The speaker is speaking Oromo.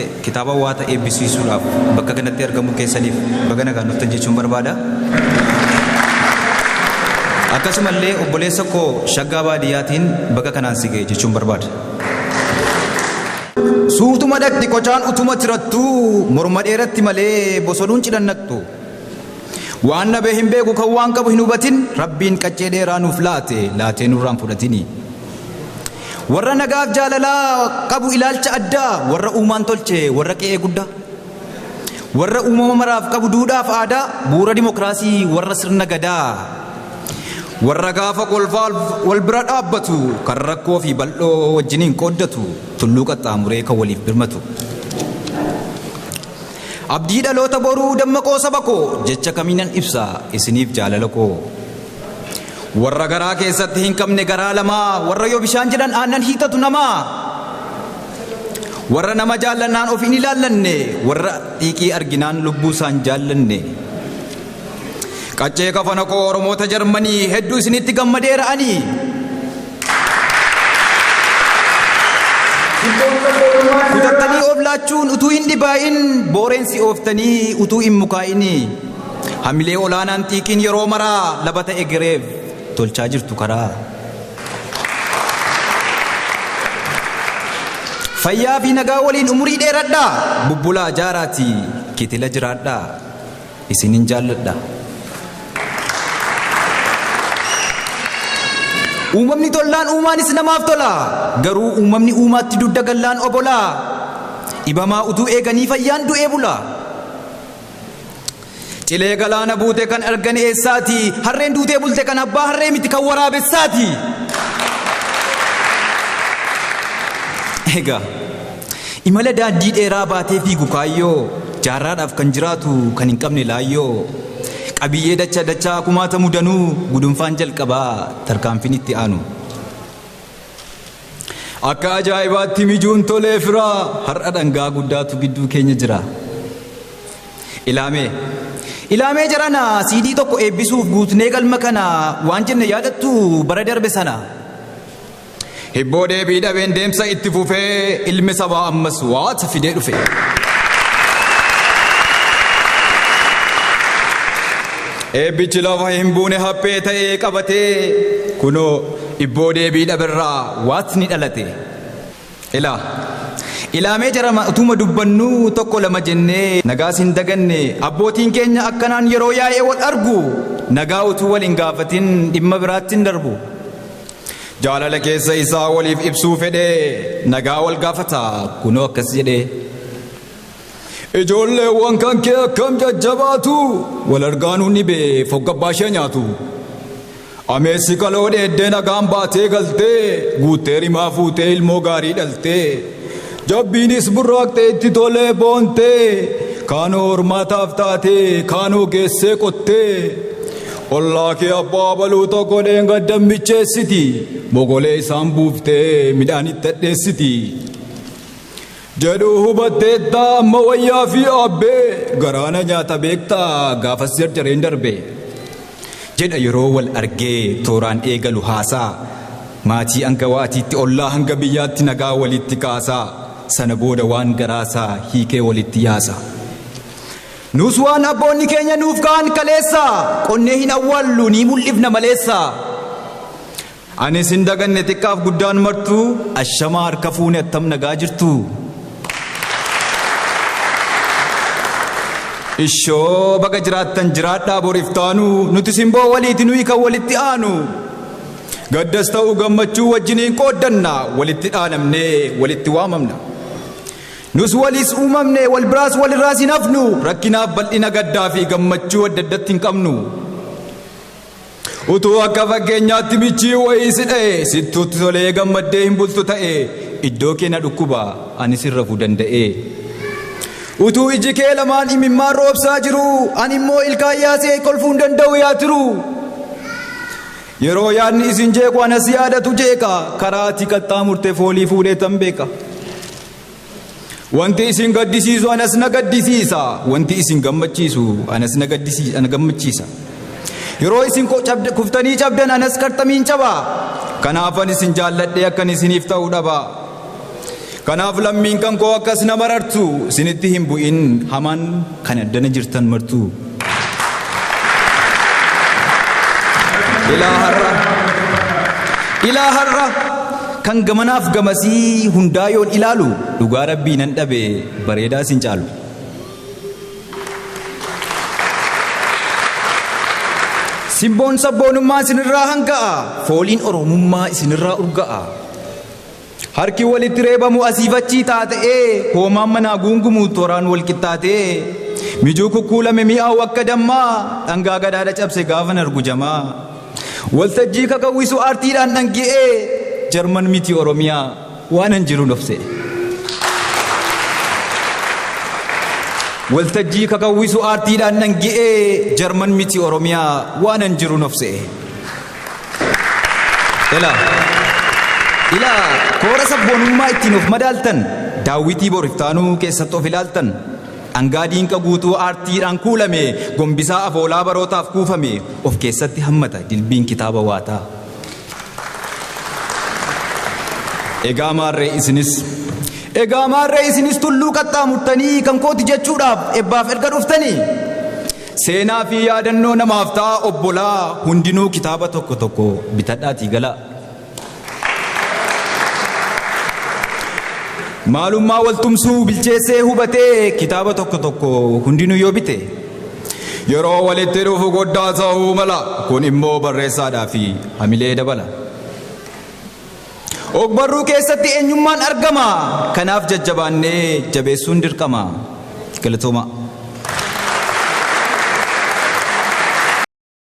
Kitaaba Waata eebbisiisuudhaaf bakka kanatti argamuu keessaniif baga nagaan dhuftan jechuun barbaada. Akkasumallee obboleessa koo Shaggaa Baadiyyaatiin baga kanaan si ga'e jechuun barbaada. Suutuma dhaqxi qocaan utuma tirattu morma dheeratti malee bosonuun cidhannattu. Waan nabee hin beeku kan waan qabu hin hubatin rabbiin qaccee dheeraa nuuf laate laatee nurraan fudhatini. Warra nagaaf jaalalaa qabu ilaalcha addaa warra uumaan tolche warra qe'ee guddaa. Warra uumama maraaf qabu duudhaaf aadaa bu'uura dimokiraasii warra sirna gadaa. Warra gaafa kolfaa wal bira dhaabbatu kan rakkoo fi bal'oo wajjiniin qooddatu tulluu qaxxaamuree kan waliif birmatu. Abdii dhaloota boruu dammaqoo saba koo jecha kamiinan ibsa isiniif jaalala koo. Warra garaa keessatti hin qabne garaa lamaa warra yoo bishaan jedhan aannan hiixatu namaa warra nama jaallannaan of hin ilaallanne warra xiiqii arginaan lubbuu isaan jaallanne qaccee kafana koo oromoota jarmanii hedduu isinitti gammadeera ani kutattanii of laachuun utuu hin dhibaa'in booreensi ooftanii utuu hin mukaa'ini. Hamilee olaanaan xiiqiin yeroo maraa labata egereef tolchaa jirtu karaa. Fayyaa fi nagaa waliin umurii dheeradhaa bubbulaa jaaraati kitila jiraadhaa isinin jaalladha. Uumamni tollaan uumaanis namaaf tola garuu uumamni uumaatti dugda gallaan obolaa dhibamaa utuu eeganii fayyaan du'ee bulaa. Cilee galaana buute kan argan eessaati? Harreen duutee bulte kan abbaa harree miti kan waraabessaati. Egaa imala daandii dheeraa baatee fiigu kaayyoo jaarraadhaaf kan jiraatu kan hin qabne laayyoo qabiyyee dacha dachaa kumaata mudanuu gudunfaan jalqabaa tarkaanfiin itti aanu. Akka ajaa'ibaatti mijuun tolee firaa har'a dhangaa guddaatu gidduu keenya jira. Ilaamee. Ilaamee jarana siidii tokko eebbisuuf guutnee galma kana waan jenne yaadattu bara darbe sana. Hibboo deebii dhabeen deemsa itti fufee ilmi sabaa ammas waata fidee dhufe. Eebbichi lafa hin buune haphee ta'ee qabatee kunoo Ibboo deebii dhaberraa waatni dhalate. Ilaa. Ilaa mee jarama utuma dubbannuu tokko lama jennee nagaas hin daganne abbootiin keenya akkanaan yeroo yaa'ee wal argu nagaa utuu wal hin gaafatin dhimma biraatti hin darbu. Jaalala keessa isaa waliif ibsuu fedhee nagaa wal gaafata kunoo akkas jedhee. Ijoolleewwan kan kee akkam jajjabaatu wal argaanuu ni bee foggabbaa ishee nyaatu. Ameessi kaloo dheeddee nagaan baatee galtee guuttee rimaa fuutee ilmoo gaarii dhaltee jabbiinis burraaqxee itti tolee boontee kaanoo hormaataaf taatee kaanoo geessee qottee ollaa kee abbaa baluu tokko dheengaddan micheessiti bogolee isaan buuftee midhaan itti hadheessiti. jedhu hubatteetta amma wayyaa fi aabbee garaa na nyaata beekta gaafas jarjareen darbe jedha yeroo wal argee tooraan eegalu haasaa maatii hanga waatiitti ollaa hanga biyyaatti nagaa walitti kaasa sana booda waan garaasaa hiikee walitti yaasa nuus waan abboonni keenya nuuf ka'an kaleessa qonnee hin awwaallu ni mul'ifna maleessa Ani isin daganne xiqqaaf guddaan martuu ashamaa harka fuune attam nagaa jirtu. Ishoo baga jiraattan jiraadhaa bor iftaanu nuti simboo waliiti nuyi kan walitti aanu. Gaddas ta'u gammachuu wajjiniin qooddanna walitti dhaanamnee walitti waamamna. Nus waliis uumamne wal biraas walirraas hin hafnu rakkinaaf bal'ina gaddaa fi gammachuu adda addatti hin qabnu. Utuu akka fakkeenyaatti michii wayii si dha'e sittuutti tolee gammaddee hin bultu ta'e iddoo kee na dhukkuba ani sin rafuu danda'ee. Utuu iji kee lamaan imimmaan roobsaa jiru ani immoo ilkaan yaasee kolfuu hin danda'u yaa tiru. Yeroo yaadni isin jeequ anas yaadatu jeeqa karaa ati qaxxaamurte foolii fuudhee tan beeka. Wanti isin gaddisiisu anas na gaddisiisa. Wanti isin gammachiisu anas na gaddisiisa ana gammachiisa. Yeroo isin ko- cabd- kuftanii cabdan anas qarxamiin caba. Kanaafan isin jaalladhee akkan isiniif ta'u dhaba. Kanaaf lammiin kan koo akkas na marartu isinitti hin bu'in hamaan Kan addana jirtan martuu. Ilaa har'a Ilaa har'a kan gamanaaf gamasii hundaa yoon ilaalu dhugaa rabbii nan dhabe bareedaa isin caalu. Simboon sabboonummaa isinirraa hanga'a fooliin oromummaa isinirraa urga'a. Harki walitti reebamu asiif achii xaaxa'ee, hoomaan manaa guungumu toraan wal qixxaatee, mijuu kukkuulame mi'aawu akka dammaa, dhangaa gadaadha cabse gaafan argu jamaa. Waltajjii kakawwisu aartiidhaan dhangi'ee, Jarman miti Oromiyaa waanan jirun of se'e. Waltajjii kakawwisu aartiidhaan dhangi'ee, Jarman miti Oromiyaa waanan jirun of se'e. Ilaa. Ilaa koora sabboonummaa ittiin of madaaltan daawwitii bor iftaanuu keessatti of ilaaltan dhangaa diinqa guutuu aartiidhaan kuulame gombisaa afoolaa barootaaf kuufame of keessatti hammata dilbiin kitaaba waataa. Egaa maarree isinis Egaa maarree isinis tulluu qaxxaamurtanii kan kooti jechuudhaaf ebbaaf erga dhuftanii Seenaa fi yaadannoo namaaf ta'a obbolaa hundinuu kitaaba tokko tokko bitadhaatii galaa. Maalummaa waltumsuu bilcheessee hubatee kitaaba tokko tokko hundinuu yoo bite yeroo walitti dhufu goddaa ta'uu mala kun immoo barreessaadhaa fi hamilee dabala. Ogbarruu keessatti eenyummaan argama. Kanaaf jajjabaannee jabeessuun dirqama. Galatoomaa.